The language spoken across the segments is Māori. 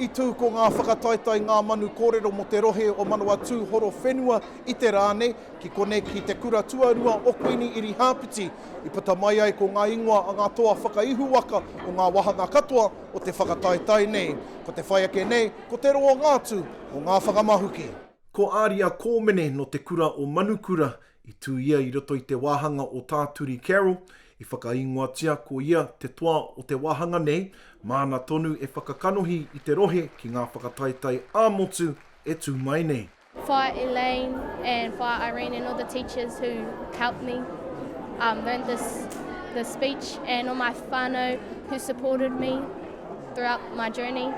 I tū ko ngā whakataetae Ngā Manu Kōrero mō te rohe o Manawatū Horowhenua i te rā nei, ki konei ki te kura tuarua o Kuini Irihāpeti, i puta mai ai ko ngā ingoa a ngā toa whakaihuwaka o ngā wāhanga katoa o te whakataetae nei. Ko te whai ake nei, ko te roanga atu o ngā whakamahuki. Ko Aria Kōmene nō te kura o Manukura I tū ia i roto i te wāhanga o Tā Turi Carroll, i whakaīngoatia ko ia te toa o te wāhanga nei, māna tonu e whakakanohi i te rohe ki ngā whakataetae ā-motu e tū mai nei. Whaea Elaine and Whaea Irene and all the teachers who helped me um, learn this, this speech and all my whānau who supported me throughout my journey.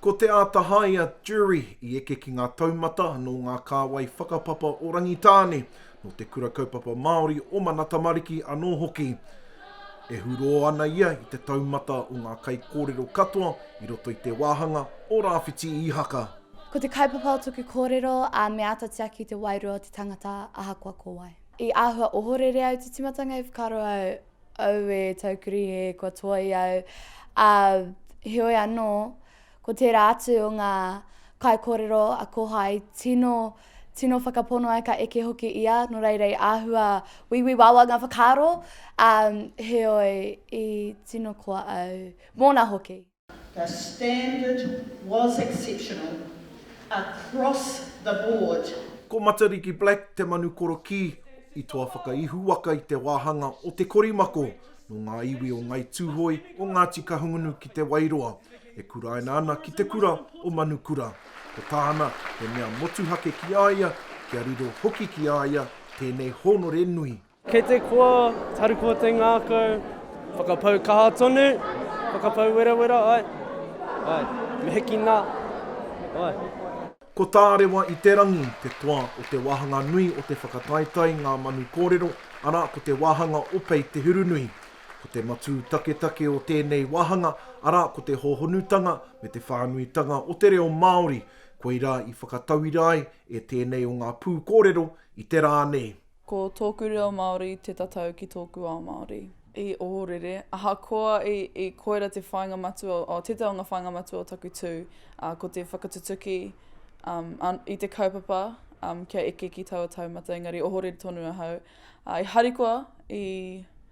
Ko Te Āta Haea Jury i eke ki ngā taumata nō ngā kāwai whakapapa o Rangitāne, nō te Kura Kaupapa Māori o Mana Tamariki anō hoki. E hurō ana ia i te taumata o ngā kaikōrero katoa i roto i te wāhanga o Rāwhiti Īhaka. Ko te kaupapa o tōku kōrero a Me āta tiaki te wairua o te tangata ahakoa ko wai. I āhua ohorere au te timatanga i whakaaro au. Aue Taukurihe kua toai au, ā, heoi anō, ko tērā atu o ngā kaikōrero a Kohae, tino, tino whakapono ai ka eke hoki ia, nō reira i āhua wīwī wāwā ngā whakaaro, ā, heoi, i tino koa au, mōna hoki. The standard was exceptional across the board. Ko Matariki Black te manu korokī i toa whakaihuwaka i te wāhanga o Te Korimako nō ngā iwi o Ngai Tūhoe, o Ngāti Kahungunu ki Te Wairoa, e kuraina ana ki te kura o Manukura. Ko tāna he mea motuhake ki a ia, kia riro hoki ki a ia tēnei hōnore nui. Kei te koa, Tarukua te ngākau, whakapau kaha tonu, whakapau werawera, ae, ae, me hiki na, ae. Ko Tārewa i te Rangi te toa o te wāhanga nui o te whakataetae Ngā Manu Kōrero, arā, ko te wāhanga o Pei Te Hurunui. Ko te matū taketake o tēnei wāhanga, arā, ko te hōhonutanga me te whānuitanga o te reo Māori, koirā i whakatauira ai e tēnei o ngā pūkōrero i te rā nei. Ko tōku reo Māori te tatau ki tōku ao Māori. I ohorere, ahakoa i koira te whāinga matua, o tētahi o ngā whāinga matua o taku tū, ā, ko te whakatutuki i te kaupapa kia eke ki taua taumata, engari ohorere tonu ahau. I harikoa i